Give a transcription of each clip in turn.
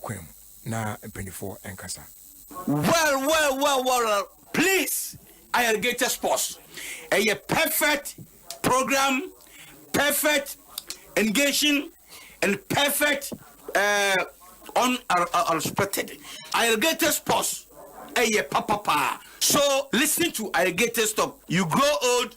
kwan mu na mpanyinfoɔ nkasa. Well well well well please Irrigated Sports ɛyɛ perfect program perfect engaging and perfect uh, on unexpected Irrigated Sports ɛyɛ papapaa so listen to Irrigated Stop you grow old.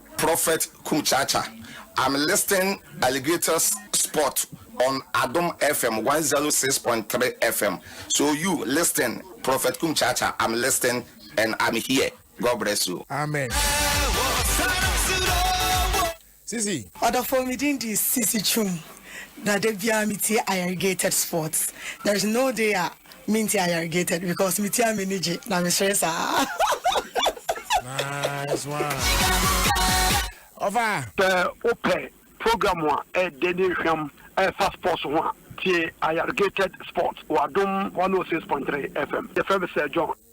Prophet Kruchacha I'm listing alligators spot on Adom FM one zero six point three FM so you listing Prophet Kruchacha I'm listing and I'm here God bless you. Amen. Sisi. Ɔdɔfo me din di Sisi Chum na da biara me tie Ayarigated Sports there is no day a Me nti I irrigated because me ti a m'ani gye na me sere saa. Nice one. Ɔfa. Sɛ wopɛ program a ɛɛdɛ ne nhwam a ɛfa sports ho a, tie Ayargated Sports wɔ Adom 106.3 FM. Yɛfrɛ me Sir John.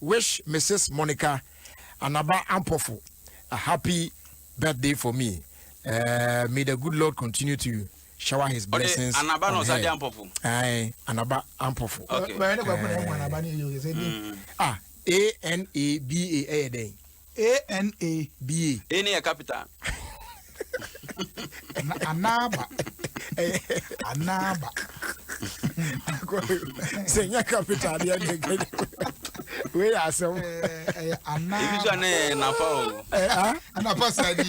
Wish Mrs Monica Anaba Ampofo a happy birthday for me. Uh, may the good Lord continue to shower his blessings on her. Aye, Anaba Ampofo. Okay. Uh, ah, A N A B A ɛyɛ dɛn? A N A B A. A ne yɛ capital. Anaba. Anaba. Sɛ nyɛ capital deɛ ne nkɛde. Wei yɛ asɛm. Ɛyɛ anaba. Ebi so anɛ nafa o. Anapa sadi.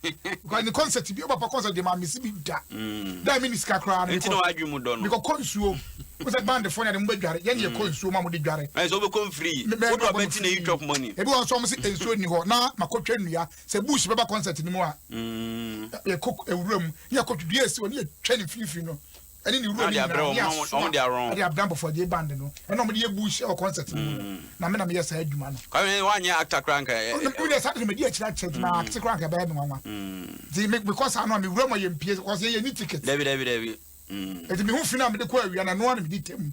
Because ne concert bi o papa concert de ma me si bi da. Mm. Da me ni sika kra na me ko. Enti mu do no. Me ko konsuo. Mo se band fo na de mo be dware. Ye ne mm. konsuo ma mo de dware. Eh so be kon free. Wo do be ti na you chop money. Ebi won so mo se ensuo ni ho na makotwa nnua. Se bush be ba concert ni mu a. Mm. Ye ko ewuram. Ye ko dua esi won ye twa ni fifiri no. ɛne ne wura no nyinaa de asoa de abrɛ abɔfra gye band no ɛna wɔn de yɛ bush ɛwɔ concert no mu no mm. na me na meyɛ saa adwuma no. kwame wanyɛ actor kora nka yɛ. ɔnum ɔnum saa de na mɛ di akyire akyɛ gyina mm. actor kora nka bɛyɛ mi nwanwa. ti mi kɔ saa no a mi wura mu yɛ mpie kɔ sɛ yɛ ni ticket. dabi dabi dabi. eti mi ho fi na mi de kɔ awia na noa na mi di tɛm.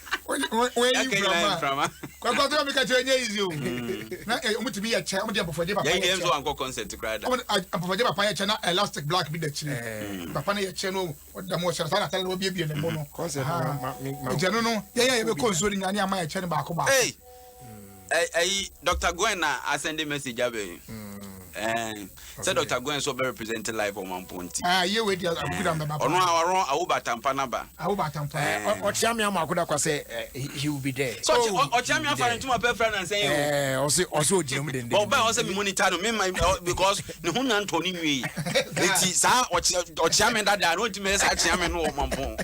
wɔayi mframa kwakwa to meka kyerɛ nyɛ easy o na ɔmotumi yɛ kyɛ ɔmode abɔfɔgye papa yɛ kyɛ wankɔ concert koraa da abɔfɔgye papa yɛ kyɛ na elastic black bi da kyiri papa no yɛ kyɛ no ɔda mu ɔhyɛ saa natare na wabiebie ne bo no ɛgyɛ no no yɛyɛ yɛbɛkɔ nsuo no nyane ama yɛ kyɛ no baako baako ɛyi dr gwen na asɛnde message abɛ yi sɛ dr gwen nso bɛ represent life ɔman po nti ɔno ɔno awoba atampa naba awoba atampa ɔkyea me ama akoda kwa sɛ he will be there so ɔkyea me afa ne ntoma pɛ fira nansɛn yi o ɔsɛ ɔsɛ ɔgyina mu dende ɔba ɔsɛ me monitor no me ma because ne ho nya ntɔ ne nwie eti saa ɔkyea me dada na ɔntumi yɛ saa kyea me no ɔman po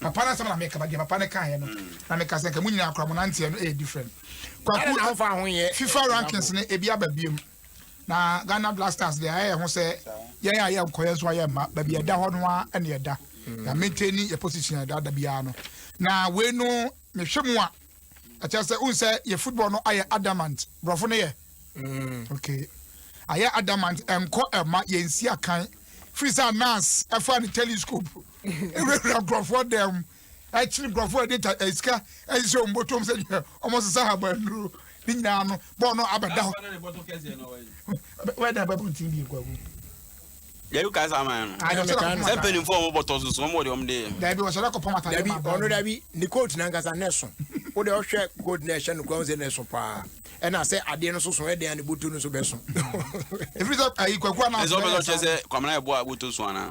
papa no asɛm na meka ba deɛ papa no kaeɛ no na meka sɛ nka mo nyinaa kora mo nanteɛ no ɛyɛ different kwaku fifa rankings no ebi aba biem na ghana black stars deɛ ayɛ ho sɛ yɛn a yɛ nkɔyɛ nso ayɛ mma baabi ɛda hɔ no a ɛne ɛda mm. na maintain yɛ position ɛda da biara no na wei no mehwɛ mu a ɛkyɛ sɛ wohu sɛ yɛ football no ayɛ adamant borɔfo no yɛ mm. okay ayɛ adamant ɛnkɔ ɛma yɛnsi akan firi sɛ nas ɛfa ne telescope wurawura nkurɔfoɔ dan mu kyere nkurɔfoɔ a ɛde sika ahyehyɛ wɔn bɔtɔm sɛ wɔsesa habannuro ne nyinaa no bɔɔ no abɛda hɔ wɛda bɛbɔ ntin bi nkwagu dabi ka saa man no sɛ mpanimfoɔ wɔn bɔtɔ soso wɔn wɔde wɔn de yɛ dabi wɔhyɛda kɔpɔm atade dabi ɔno dabi ne coat na nkasa na ɛso wo deɛ ɔhwɛ coat na ɛhyɛ no kura wo sɛ na ɛso paa ɛna sɛ adeɛ no soso ɛdeɛ a ne bɔtɔ no so bɛso ɛfiri sɛ ayi kwaku anaa ɛsɛ ɔbɛsɛ ɔkyɛ sɛ kwamena ɛboa bɔtɔ so anaa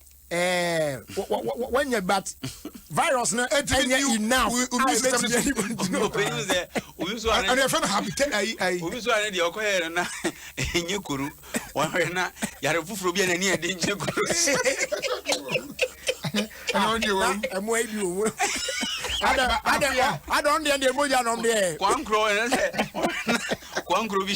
ɛɛ wɔnyɛ but virus no ɛnyɛ enough a ɛbɛtumi ɛni bɔ nti no ɛni ɛfɛ no habitat ayi ayi. obi sọ ɛni deɛ ɔkɔ yɛ na ɛnyɛ koro wɔhwɛ na yàrá foforɔ bi a n'ani ɛdi nkyɛn koro. ɛna ɔn deɛ wɔn. ɛmu ayi bi wɔ mu. adɛ adɛ adɛ ɔn deɛ deɛ mogya nɔm deɛ. kwankorɔ ɛnɛ sɛ kwankorɔ bi.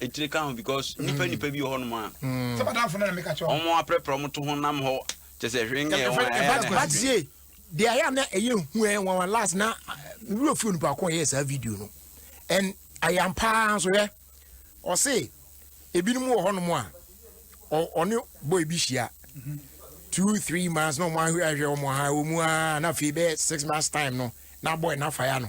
etire ka ho because mm. nipa nipa bi wɔ hɔnom a mm. sɛ madamfo no na meka kyerɛ wɔn aprɛprɛ wɔn to ho nam hɔ kyɛ sɛ hwee nyɛ wɔn ayɛ na batie deɛ ayɛ a na ɛyɛ hu ɛ wɔn wɔn last na wura fi onipa ko yɛ saa video no ɛn ayam paa nso yɛ ɔse ebinom wɔ hɔnom a ɔne boy bi hyia mhm. two three months na wɔn ahwɛ ahwɛ wɔn ha wɔn mu aa na afei bɛyɛ six months time no na boy na fa ya no.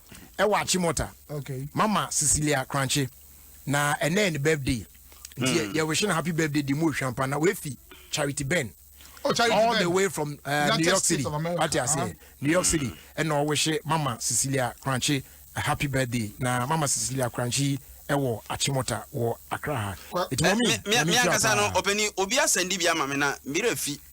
ɛwɔ akyemɔta okay. mama cecilia kranche na ɛnɛ ne birthday nti mm. yɛwehye no happy birthday de mu ohwampa na wafi charity ben Oh, Charity all ben. the way from uh, New York City. What you say? New York City. Mm. And I wish Mama Cecilia Crunchy a happy birthday. Now, Mama Cecilia Crunchy ɛwɔ achimota wɔ akra ha ɛti mɔ mi mi ankasa no ɔpɛni obi asɛndi bi ama mi na mmerɛ fi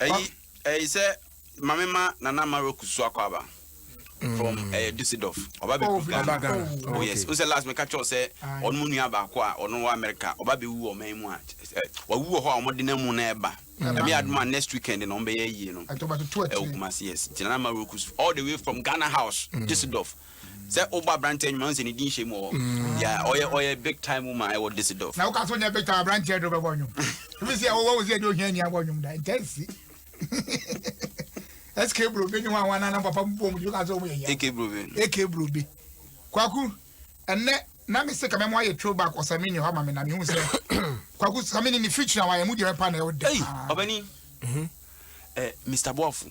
ɛyi ɛyi sɛ maame ma nana ma roku so akɔ aba from ɛyɛ mm. Düsseldorf ɔba bɛ kuru Ghana oh yes n sɛ last mɛka kyɛw sɛ ɔno mu nua baako a ɔno wɔ America ɔba bɛ wu wɔ ɔman mu a wawu wɔ hɔ a wɔde na mu na ɛba ɛmi aduma next weekend na wɔn bɛ yɛ yie no ɛwɔ Kumasi yes gyina na ma roku all the way from Ghana house mm. Düsseldorf. Sɛ wobɔ aberanteɛ nnwom a, wohu sɛ ne din hyɛ mu wɔ hɔ. Mm. Yeah, ɔyɛ ɔyɛ big time woman ɛwɔ Düsseldorf. Na woka so nyɛ big time aberanteɛ de wobɛbɔ nnwom. Ebi si a wowɔ wo sɛ ɛde ohia ni abɔ nnwom da. Ɛntɛ nsi. SK Brobe ne wɔn anana papa mu bom de woka so wɔn yɛ hia. AK Brobe. AK Brobe. Kwaku, ɛnɛ na me se kama mu ayɛ throwback ɔsamini hɔ ama me na mehu sɛ kwaku samini ne feature a wayɛ mu deɛ mɛpa na ɛwɔ dɛ. Ɔbɛni. Mr. Boafo.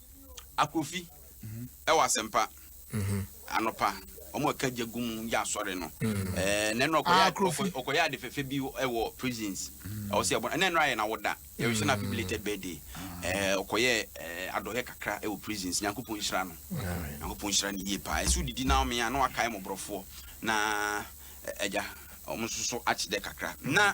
Akrofi ɛwɔ asɛmpa anɔpa wɔn a ɛka gya gu mu yɛ asɔre no ɛɛ na ɛnora ɔkɔyɛ ɔkɔ ɔkɔyɛ ade fɛfɛ bi ɛwɔ prisons ɛwɔ sɛ ɛbɔ na ɛnora yɛ na wɔda yɛrɛ sɛ na happy belated birthday ɛɛ ɔkɔyɛ ɛɛ adɔyɛ kakra ɛwɔ prisons nyankopɔn nhyira no nyankopɔn nhyira no yie paa ɛsɛ odidi na ɔmea na wakae mɔborɔfoɔ na ɛgya wɔn nso so akyedɛ kakra na.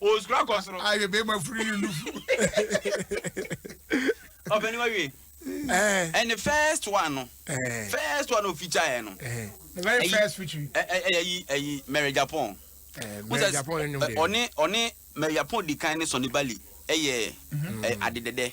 Osukura kɔ soro. Ayɛ bɛɛ ma firi ne nufu. Ɔpɛni wa wie. And the first one no. First one no feature yɛ no. The very first feature. Ɛyɛ yi ɛyi Mary Japon. Mary Japon yɛ nyom de. Ɔne ɔne Mary Japon di kan ne Sonny Bali ɛyɛ ade dɛdɛ.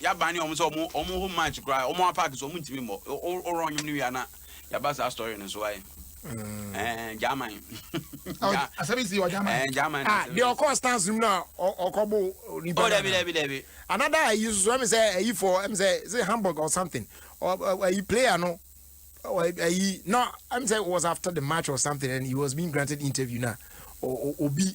Ya ban ne ɔmo sɛ ɔmo ɔmo home match koraa ɔmo a park so ɔmo ntumi mmɔ wo wo run nwom no wie a na ya ba saa story no so ae ɛɛ German Ɔ- asɛm yi si wɔ German. ɛɛ German Ah, asɛm deɛ yi. ɔkɔɔ stars no mu na ɔ- ɔkɔbo nipa Oh, no dabi, anaa? dabi, dabi. another ayi nso so ɛmi sɛ ayi fɔ ɛmi sɛ is it hamburg or something ɔ ɔ- ayi player no ɔ- ɔ- ayi na ɛmi sɛ it was after the match or something and he was being granted interview na ɔ- ɔ- obi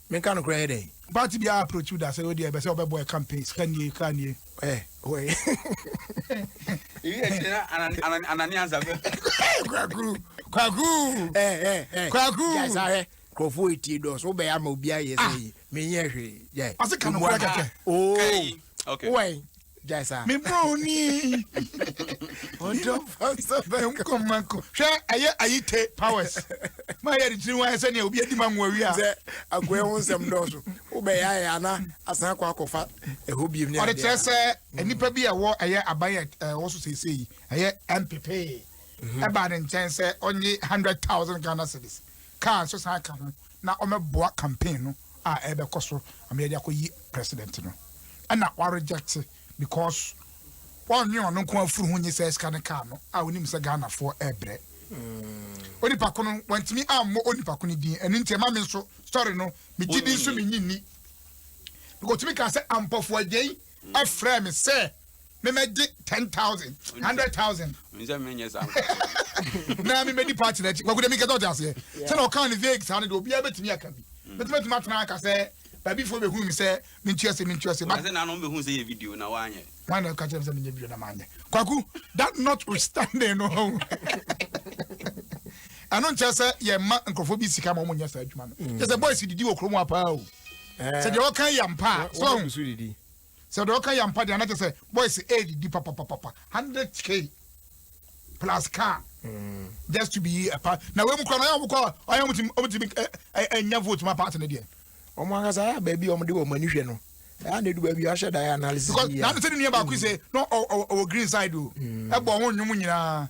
Menka nokorɛ yɛ dɛn? Party biara approach wo da sɛ wodeɛ ɛbɛsɛ ɔbɛbɔ ɛ campaign sika nie car nie ɛ Kwakuu kwakuu kwakuu. Gyae saa hwɛ nkurɔfoɔ retie dɔɔso wobɛyɛ ama obiara yɛ sɛ menyɛ hwee gyae. Ɔse ka nokorɛ kɛkɛ. Ooh wowɔ he? gyae saa. me broni ɔdɔ nkɔma kɔ hwɛ ɛyɛ ayite powers ma yɛ de tiri wɔn ayɛ sɛ nea obi adi ma nwa wia sɛ agoɛ ho nsɛm dɔɔso wobɛyɛ ayɛ ana asan akɔ akɔfa ɛhɔ biem ne ɔde kyerɛ sɛ nnipa bi a ɛwɔ ɛyɛ aban yɛ ɛwɔ so seesei ɛyɛ mpepee ɛbaa ne nkyɛn sɛ ɔnye hundred thousand Ghana cedis Car nso san ka ho na ɔmɛboa campaign no a ɛbɛkɔ so ama yɛde akɔ yi president no. Ɛna wa reject because ɔnwe ɔno nko afuru ho nye sɛ sika ne car no a onim sɛ Ghana foɔ ɛbrɛ. Onipa ko no wantumi ammɔ onipa ko no din ɛno nti ɛma me nso sorry no megye din so menyi nni. Because otumi kaa sɛ ampɔfoɔ agya yi frɛɛ me sɛ memmɛgye ten thousand hundred thousand na memmɛdi party no akyi kwakuda mi nkɛtɛ ɔte aseɛ sɛ na ɔkaa ne vague saa no deɛ obiara bɛtumi aka bi mɛtumi atumi atena aka sɛ baabi foɔ bɛhunu mi sɛ mentua se mentua se wana ɛka kyerɛ me sɛ menyɛ video na maanyɛ kwaku that notwithstanding no ɛno nkyɛ sɛ yɛma nkurɔfoɔ bi sika ma ɔmonyɛ saa adwuma no kyɛ sɛ boys didi wɔ kurom apaa o Eh. Sɛ deɛ ɔka yɛ ampa a. So ɔhu. Sɛ deɛ ɔka yɛ ampa deɛ anakyɛ sɛ boys ɛredidi papapapa hundred k plus car. Mm. Just to be a part. Na wei mu kura na ɔyɛ ɔmo kɔ ɔyɛ ɔmo ti ɔmo ti mi ɛ ɛ vote ma party ne deɛ. Ɔmo ankasa yɛ abɛɛbi ɔmo de wɔn ani hwɛ no ɛyà na edu baabi ahyɛ da yɛ analysis bi yɛ. because n'anu sɛ ne nua baako yi sɛ no ɔwɔ green side o ɛbɔ ɔho nnwom nyinaa.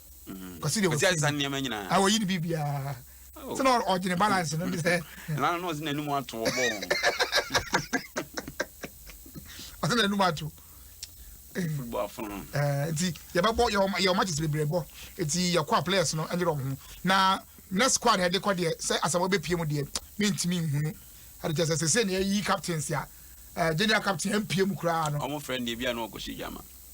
kɔsi de wɔsi ase nneɛma nyinaa a wɔyi ne bi biara oh. sɛ na ɔgyene balance no de sɛ ɛna no ɔsi n'anim ato ɔbɔ wɔn ɔsi n'anim ato football afɔn no ɛɛ nti yɛbɛbɔ yɛ ɔma kyesɛ bebree bɔ nti yɛkɔ a players no ɛnyɛ ɔmo ho na next squad ɛde kɔ deɛ sɛ asɛm ɔbɛ pie mu deɛ mi ntumi nhunu ɛde kyɛ sɛ sɛ sɛ na yɛyi captains a ɛɛ general captain ɛmpie mu koraa no ɔmo fɛ no deɛ bi a na ɔkɔ si dwama.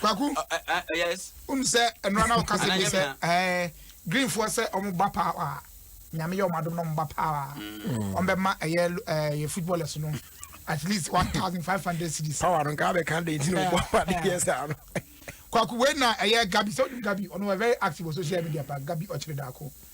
kwaku wom sɛ ɛnora na woka sɛ bi sɛ eh, greenfoɔ sɛ ɔmo ba paa a nyame yɛ ɔmo adom na ɔmo ba paa a mm. ɔmo bɛma ɛyɛ eh, yɛ footballers no at least one thousand five hundred cedis. power no nka abɛka de nti na ɔbɔ eh, pade yɛ eh. saa no kwaku wei na ɛyɛ gabi sɛ wonim gabi ɔno wɔ very active wɔ social media pa gabi ɔkyere daako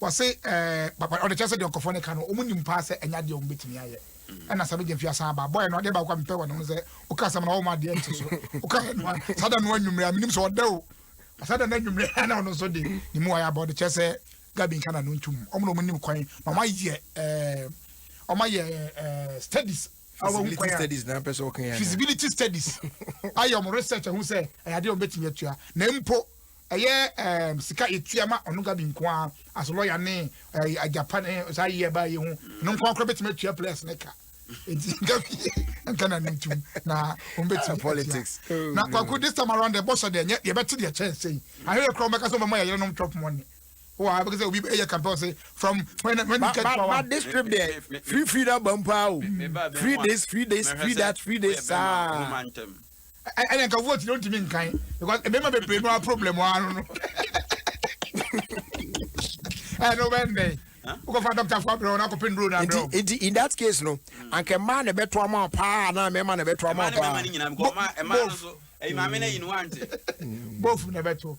wɔse papa ɔde kyerɛ sɛ deɛ nkɔfoɔ no ka no wɔn nim paa sɛ ɛnyɛ adeɛ wɔn bɛtumi ayɛ ɛna sɛ bɛgye mfi asan aba bɔyɛ no adeɛ baako a mepɛ wɔ ne ho sɛ woka asɛm na wɔma adeɛ nte so woka yɛ no a saa da no anwummerɛ a menim sɛ ɔda o saa da no anwummerɛ na ɔno nso de ne mu ayɛ aba ɔde kyerɛ sɛ gabi nka na no ntom ɔmo na ɔmo nim kwan na ɔmo ayɛ ɛɛ ɔmo ayɛ studies feasibility studies na pɛsɛ ɔkan yɛ feasibility studies ayɛ ɔmo research ɛho sɛ ɛyɛ adeɛ ɔmo bɛtumi atua na mpo Ɛyɛ ɛɛm sika etua ma ɔno gabi nko ara as lɔya ne ɛɛ agyapa ne saa yi ɛbaa yi ho no nko akora betumi atua players ne ka eti gabi nka na ne ntum na wɔn betumi ah, politics oh, na kwaku this time around the boss deɛ nyɛ yɛbɛte deɛ kyɛn sɛ yi ahwɛ kura wɔn bɛka sɛ wɔn ayɛ yɛrɛ nom chop money wɔ abɛka sɛ obi ɛyɛ campaign sɛ from when when you get power. ba this trip deɛ free free na bampa o free this free this free that free this saa. ɛna nka vote no ntumi nkan because mmarima bebree no a problem wɔ ano no ɛna wobɛyɛ ne dɛn wokɔfa doctor fo abrɛ na akɔpɛ nduro no abrɛ nti in that case no anka mmaa na ɛbɛto ama paa anaa mmarima na ɛbɛto ama paa bofu na ɛbɛto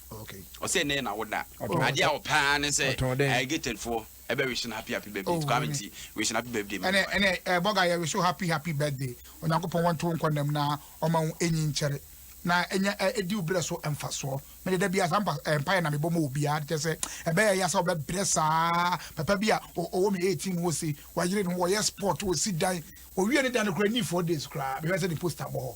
Ɔsɛ nɛɛ na woda. Adeɛ a ɔpɛ ara ne sɛ ɛyɛ gated foɔ ɛbɛ wish no happy happy birthday. Nti kwame nti wish no happy birthday. Ɛnɛ ɛnɛ ɛɛ bɔga yɛ wish happy happy birthday. Onyankopɔn wɔn to nkɔ nam na ɔma wo enyi nkyɛre na enya edi wo brɛ so mfasoɔ. Mede da bi asampa mpaeɛ na mebɔ ma obiara de kyɛ sɛ ɛbɛyɛ ya sɛ ɔbɛ brɛ saa papa bi a ɔwɔ mi 18 wɔ se wayere no wɔyɛ sport wɔ si dan owie ne dan no kura ni four days kura bɛhwɛ sɛ ne poster bɔ hɔ.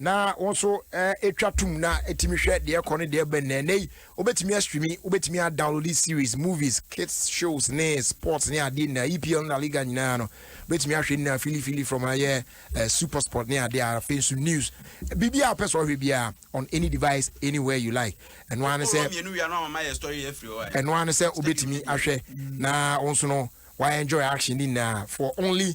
na wo nso twa tom na tumi hwɛ deɛ ɛkɔ ne deɛ ɛbɛn na ɛnɛ yi wobɛtumi astreami wobɛtumi adownload series movies kids shows ne sports ne adeɛ nyinaa EPL na Liga nyinaa no wobɛtumi ahwɛ nyinaa filifili from ayɛ uh, super sport ne adeɛ a afei nso news biribi a wopɛ sɛ ɔhwɛ biara on any device anywhere you like ɛno ara ne sɛ ɛno ara ne sɛ wobɛtumi ahwɛ na wo nso no wayɛ enjoy action ne nyinaa for only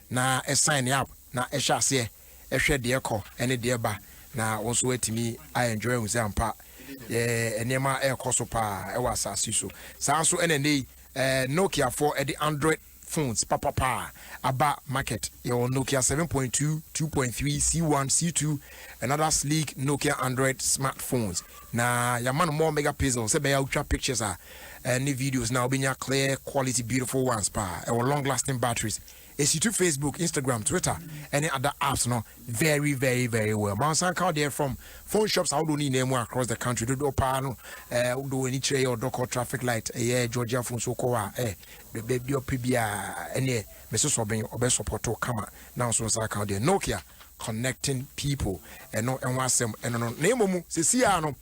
na sign up na hyɛ aseɛ hwɛ deɛ kɔ ne deɛ ba na wo nso atumi a enjoy ahu sɛ ampa eh, nneɛma ɛrekɔ so paa ɛwɔ asase so saa nso ɛna ɛnɛ yi eh, Nokia foɔ ɛde Android phones papapa aba market yɛwɔ Nokia 7.2 2.3 C1 C2 and other sleek Nokia Android smartphones na yɛama no more megapixel sɛ bɛyɛ wotwa pictures a eh, ne videos na wobɛnya clear quality beautiful ones paa ɛwɔ long lasting batteries Esi to Facebook, Instagram, Twitter ɛne other apps no very very very well. Ma ɔsan ka wo deɛ from phone shops ahodoɔ no nyinaa mu across the country dodoɔ paa no eh, wode w'ani kyerɛ yɛ ɔdɔ kɔ traffic light ɛyɛ eh, Georgia phone so kɔ a eh, baabi ɔpɛ biara ɛneɛ mesosɔ ben ɔbɛ sɔpɔto kama na nso nsa ka wo deɛ Nokia connecting people ɛno ɛho asɛm ɛno no na mmom sɛsi a no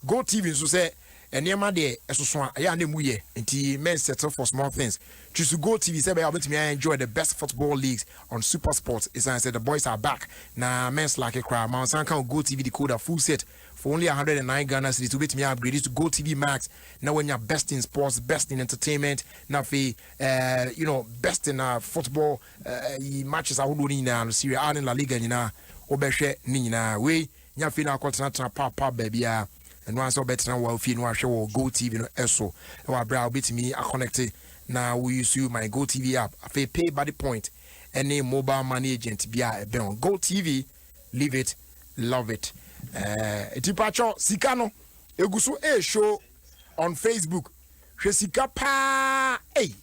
GoTv nso sɛ nneɛma deɛ ɛsoso a ɛyɛ a na ɛmu yɛ nti men settle for small things choose GoTv sɛ ɛbɛyɛ a wobɛtumi a enjoy the best football leagues on Supersport ɛsiane sɛ the boys are back na men slacke koraa ma ɔnsan ka wo GoTv decoder full set for only a hundred and nine Ghana cedis wobɛtumi a upgrade to GoTv Max na wanya best in sports best in entertainment na afei eh, you know best in uh, football eh, yi matches ahodoɔ no nyinaa no Serie A ne La Liga nyinaa wobɛhwɛ ne nyinaa wei Nya fie no ara kɔtenatena paapaa baabiara. Ɛno ara sɛ wobɛtena wo fie no ahwɛ wɔ GoTv no so wɔ aberɛ a wobɛtumi akɔnɛkte na wo use my GoTv app, afei PayBuddy point ne mobile money agent biara a ɛbɛn wo. GoTv, live it, love it. Eh, ɛti pakyɛ sika no ɛgu so ɛreshow on Facebook hwɛ sika paa ei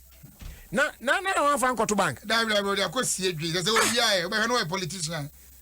na na na wɔafa nkɔto bank. dabi dabi ɔde akɔ sie dwi sɛ sɛ obiara yɛ ɔbɛhwɛ no yɛ politician.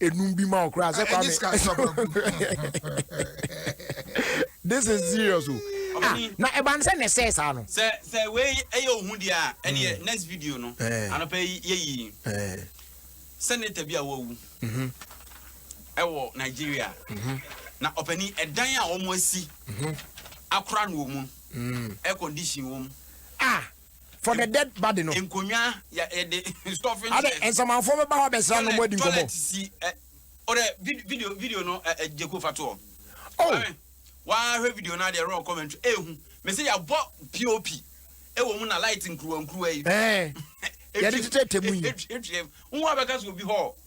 enum bi ma ɔkora sɛ kwame this is serious o oh. ah, na ɛba n sɛ ne sɛ saa no sɛ sɛ wei ɛyɛ ohu deɛ a ɛneɛ hmm. next video no eh. anɔpɛ yɛyi eh. sɛneta bi a wawu mhm. ɛwɔ nigeria mhm. na ɔpani ɛdan a wɔn asi mhm. akora no wɔ mu mm. air condition wɔ mu ah. for the dead body no. nkonnwa yɛ yɛde stuffing chairs. adɛ nsamanfoɔ bɛba hɔ abɛsra no mo adi nkɔmɔ. toilet si ɛ ɔdɛ video video no ɛ ɛ jeko fa toɔ. oh wahwɛ video no adeɛ raw commentary ehu mesi yabɔ pop ɛwɔ mu na light nkuruwa nkuruwa yi. ɛɛ yɛde tetɛ tɛmu yi. ɛtwitwa mu nwa bɛka so obi hɔ.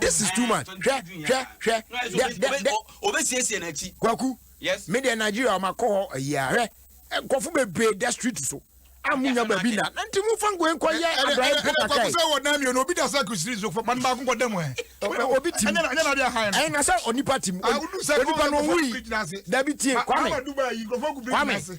this is too much hwɛ hwɛ hwɛ dɛ dɛ dɛ obesiesie n'akyi kwaku me deɛ nigeria ɔma kɔ hɔ ayi ahwɛ nkɔfo bebree da street so amu nya baabi na nti mu fa ngoe nkɔ yɛ abrayɛ mpo kakra yi. sɛ wɔ nan mmienu obi da sɛ kusiri so fɔ man baako kɔ dɛm ɛ. obi ti mu ɛnyɛ na de ahan no. ɛyɛ na sɛ onipa ti mu onipa na owu yi dabi tie kwame kwame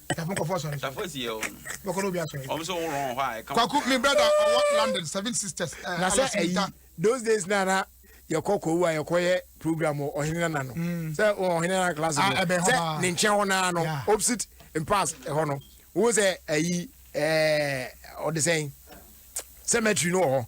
Dafo nkɔfo asɔre. Dafo esi yɛ wɔn. Bɛkɔ n'obi asɔre. Wɔn nso wɔn hɔ a ɛka. Kwaku mi brada ɔwɔ London seven sisters. Eh, na sɛ ɛyi those days na na yɛkɔ kɔwu a yɛkɔ yɛ program wɔ ɔhene nana no mm. sɛ ɔhene nana class no ah, sɛ ne nkyɛn hɔ naa no opposite mpass ɛhɔ no wo sɛ ɛyi ɛɛ ɔde sɛn cemetery no wɔ hɔ.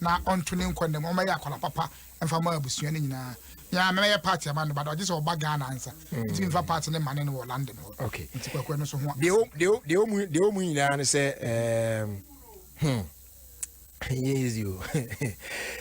na ɔnto ne nkwa nna mu ɔmɛyɛ akwadaa papa mfa ma abusua no nyinaa mea mɛyɛ party ama no bada ɔgye sɛ ɔba Ghana ansa mm. nti mfa party ne mane no wɔ London hɔ okay. nti kwakoa no so ho deɛ ɔmu nyinaa no sɛ hmm. yes you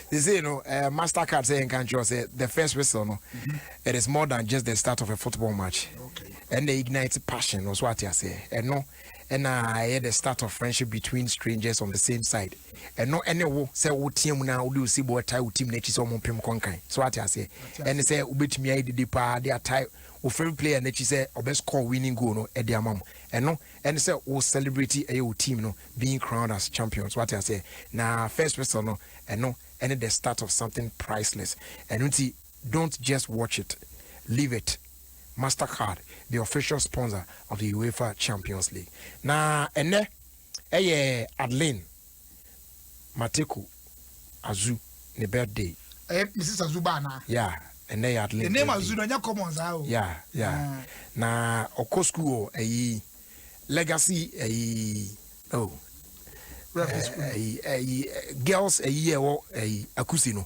they say you know uh, mastercard saying country or say the first whistle no mm-hmm. it is more than just the start of a football match okay. and they ignite passion also what you say and no ɛna ɛyɛ the start of friendship between strangers on the same side ɛno ɛne wo sɛ woteɛ mu na wode osi bo ɛtae wo tim n'akyi sɛ ɔmo mpem kɔnkan so ate aseɛ ɛne sɛ wobɛtumi ayɛ dede paa de atae wo favorite player n'akyi sɛ ɔbɛ score winning goal no ɛde ama mo ɛno ɛne sɛ wo celebrity ɛyɛ wo team no being crowned as champion so ate aseɛ na first whistle no ɛno ɛne the start of something priceless ɛno nti don't just watch it leave it Mastercard, the official sponsor of the Uefa Champions League. Na ɛnɛ ɛyɛ Adeline Mateko Azu ne birthday. Ɛyɛ Mrs. Azu ba anaa? Yeah, ɛnɛ yɛ Adeline birthday. The name Azu no ɛnyɛ common saa o. Yeah, yeah. Ah. Na ɔkɔ school wɔ ɛyi legacy ɛyi oh. Referee school. Ɛyi eh, ɛyi eh, eh, girls ɛyi ɛwɔ ɛyi akusi no.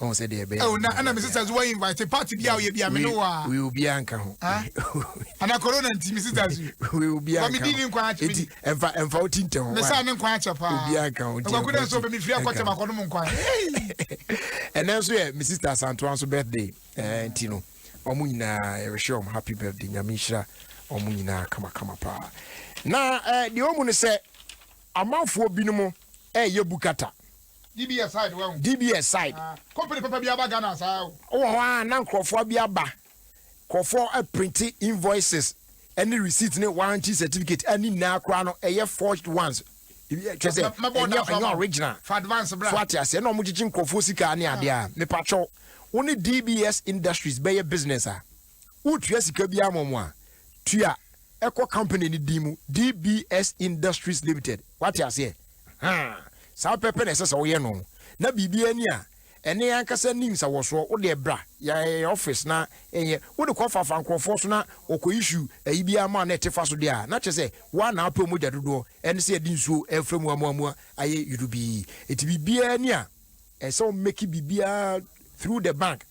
ɔn sɛ deɛ ɛbɛyɛ. ɛwɔ na ɛna mi sisters wɔ invite party bi a ɔyɛ bi a mi ni wɔ a. wei obi anka ho. ana corona nti mi sisters yi. wei obi anka ho wami di ni nkwa akyɛ mi. eti nfa nfa o ti ntɛ ho. mi sa ne nkwa akyɛ paa. obi anka ho nti ɛkɔ nso bɛ mi firi akɔtɛ ma kɔnum nkwa. ɛnɛ nso yɛ mi sister santoa nso birthday ɛɛ nti no wɔn nyinaa yɛrehwɛ wɔn happy birthday nyame nhyira wɔn nyinaa kamakama paa na ɛɛ deɛ wɔn mu no sɛ amanfoɔ binom ɛɛyɛ bukata. DBS side wahu. DBS side. Ah company papa bi aba Ghana saa o. Ɔwɔ hɔ aa na nkorɔfoɔ bi aba nkorɔfoɔ ɛprinte invoices ɛne receipt ne warranty certificate a ne nyinaa koraa no ɛyɛ forged ones kyerɛ sɛ ɛnyɛ ɛnyɛ original fa advance bra so ate aseɛ na ɔmo gyegye nkorɔfoɔ sika ne adeɛ a mepakyɛw wo ne DBS industries bɛyɛ business a. woretua sika biara ma wɔn a, tua kɔ company no din mu, DBS Industries Limited. Woate aseɛ? Ahaa. Saa pɛpɛ na ɛsɛ sɛ woyɛ no. Na biribiara ni a ɛne ankasa nni nsawɔsoɔ. Wo deɛ bra yɛn office na yɛnyɛ. Wode kɔfaafa nkurɔfoɔ so na wɔkɔ issue ayi biara ma wo na ɛte fa so deɛ a, na kyerɛ sɛ wo ara na wopɛ wo mogya dodoɔ ne sɛ yɛde nsuo refra mu amuamua ayɛ yudubii. Enti biribiara ni a ɛsɛ sɛ wo make biribiara through the bank.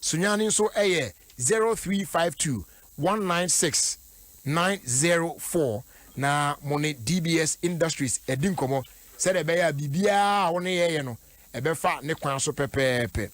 Sunya no nso yɛ zero three five two one nine six nine zero four na mo ne DBS Industries adi nkɔmmɔ sɛdeɛ ɛbɛyɛ a biribiara a wo ne yɛn yɛ no ɛbɛfa ne kwan so pɛpɛɛpɛ.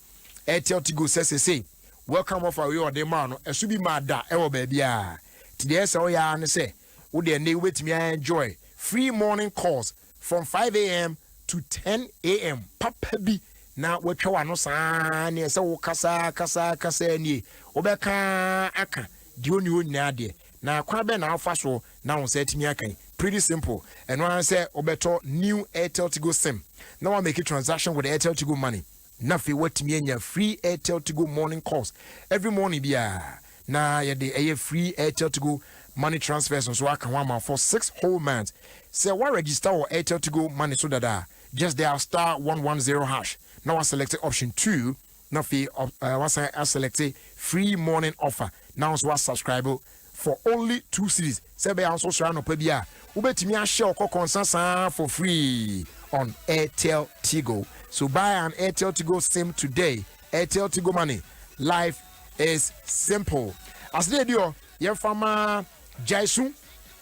Airtel Tigo sɛ sesei welcome offer wei a ɔde ma wo no ɛso bi maa da wɔ baabiara nti deɛ ɛsɛ sɛ woyɛ ara ne sɛ wo deɛ nnɛ wobɛtumi a enjoy free morning calls from five am to ten am papa bi na watwa w'ano saa ne ɛsɛ wo kasaa kasaa kasaa nie wobɛka aka deɛ ɔni hɔ nyinaa deɛ na kwan bɛn na afa so na wo nsa atumi aka yi pretty simple ɛno ara sɛ wobɛtɔ new airtel tigo sim na wa make transaction with airtel tigo money Na afei woatumi anya free Airtel Tigo morning calls every morning biara, na yɛde ɛyɛ free Airtel Tigo money transfers nso aka ho ama wo for six whole months. Sɛ woa register wɔ Airtel Tigo money so dada a, just dial star one one zero hash na woa select option two na afei woasan aselect free morning offer na wo nso woa subscribe for only two cedis sɛ ɛbɛyɛ a wo nso wosɔre anɔpa bi a wobɛtumi ahyɛ ɔkɔkɔ nsa saa for free on Airtel Tigo. So buy an Airtel Tigo sim today. Airtel Tigo Money, life is simple. Asede edi hɔ yɛmfa ma Jaisu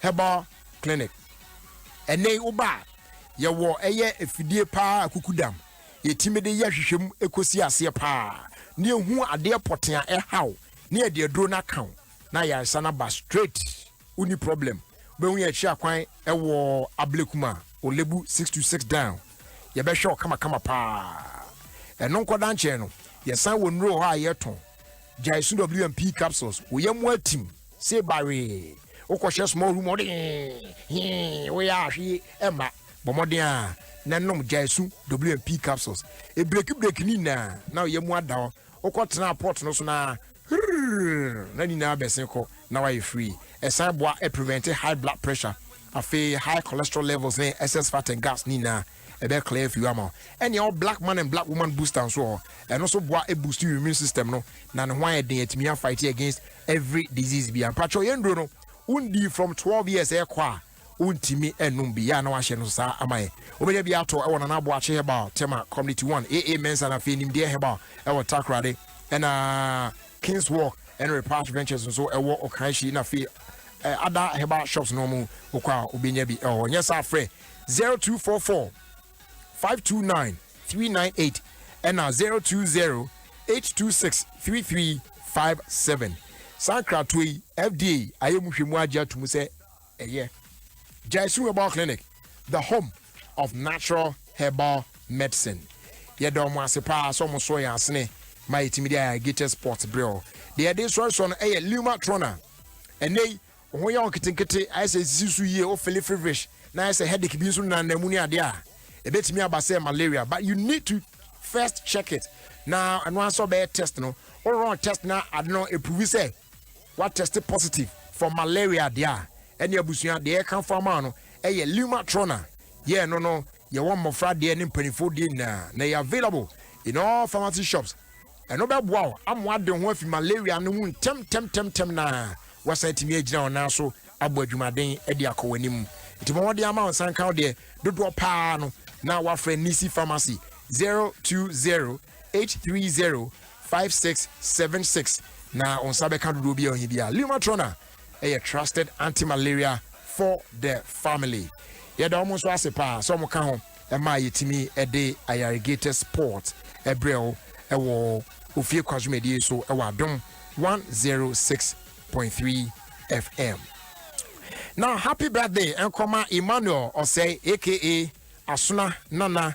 Herbal Clinic. Ɛnɛ yi woba a yɛwɔ ɛyɛ afidie paa akukudam yɛtumi de yɛ hwehwɛm ɛkɔsi aseɛ paa ne ɛhu adeɛ pɔte a ɛhaw ne yɛde aduro no aka wo na ayaresa no aba straight wonni problem wobɛhu yɛ akyiri akwan ɛwɔ ablekum a olebu 626 down yɛbɛhwɛ wo kamakama paa ɛno nkɔda nkyɛn no yɛsan wɔ nnuro hɔ a yɛtɔn gyae so wmp capsules woyɛ mu atim se bawee wokɔhyɛ small room ɔde hee woyɛ ahwe ɛma bɔ mmɔden a na nom gyae so wmp capsules ebireki bireki ne nyinaa na woyɛ mu ada hɔ wokɔ tenaa pot no so na hurrrrrr na ne nyinaa bɛse kɔ na wayɛ free. Ɛsan boa prevent high blood pressure afei high cholesterol levels ne excess fat and gas ne nyinaa ɛbɛ clear afi hɔ ama wo. Ɛna yɛwɔ black man and black woman booster nso wɔ hɔ, ɛno nso boa boost your immune system no na ne ho ayɛ den atumi a fight against every disease biara. Mpakyɛw yɛn nnuro no wo ndi from twelve years ɛkɔ a, wontumi nnom bi, yɛ a na wɔahyɛ no saa ama yɛn. Wobɛnya bi atɔ wɔ Nana Aboakye Herbal, Tema, Community One, AA Mensah na afei Nimdeɛ Herbal wɔ Takoradi, ɛna Kings Walk ɛne Repatch Ventures nso wɔ Ɔkanhyi na afei eh, ada herbal shops no mu wokɔ a wobɛnya bi wɔ hɔ. Nyɛ saa frɛ 0244 529 398 ɛna 020 826 3357. Saa nkratoɔ yi, FDA ayɛ mu hwɛ mu agye ato mu sɛ Ɛyɛ Gyaisu Herbal Clinic, the home of natural herbal medicine. Yɛda wɔn ase paa sɛ wɔn soɔ yɛn asene ma yɛtumi de ayɛ Gator Sports berɛ o. Deɛ yɛde sɔresɔ no ɛyɛ Luma Trona. Ɛnɛ yi, wo ho yɛ wo nketenkete, ayɛ sɛ nsisi so yie, wo fili feverish, na ayɛ sɛ headache bi nso nenanena mu ne adeɛ a, ɛbɛtumi aba sɛ malaria. But you need to first check it. Na ɛno ara sɛ ɔbɛyɛ test no, wo run test na ade no ɛprovi sɛ wa test positive for malaria deɛ a ɛne abusua deɛ yɛkamfo ama wo no ɛyɛ Lumatrona yɛ ɛno no yɛwɔ mmɔfra deɛ ne mpanimfoɔ deɛ nyinaa na ɛyɛ available in all pharmacy shops ɛno bɛboa wo ama wade ho afi malaria no ho ntɛm ntɛm ntɛm ntɛm na wasan atumi agyina wo nan so abɔ adwumaden de akɔ w'anim nti ma wɔde ama wo nsa nka wo deɛ dodoɔ paa no na wafrɛ Nisi Pharmacy 020 eight three zero five six seven six na wɔn nsa bɛka dodoɔ bi a wɔn bi a lumatrona ɛyɛ trusted anti-malaria for the family yɛda wɔn nso ase paa sɛ wɔn ka ho ɛma a yɛtumi ɛde ayarigator sport ɛbrɛ wo ɛwɔ ofie kwa dwumadie so ɛwɔ adom one zero six point three fm na happy birthday nkɔma emmanuel ɔsɛe aka asona nana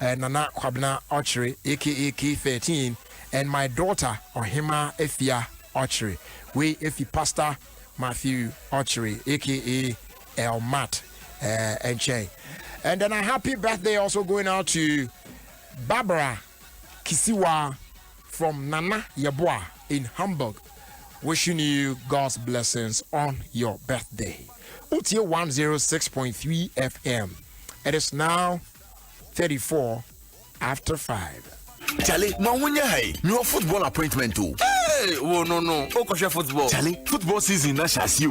Nana Kwabena Ɔkyere aka K13 and my daughter Ɔhema Afia Ɔkyere. Wei efi Pastor Matthew Ɔkyere aka Elmat nkyɛn. And then a happy birthday also going out to Barbara Kisiwa from Nana Yeboah in Hamburg. Wishing you God's blessings on your birthday. Utie 106.3 FM. It is now 34 after 5. Charlie, ma wo nyɛ ha yi mewɔ football appointment o. Hey, wo no no wokɔhwɛ football. Charlie, football season na hyɛ ase o.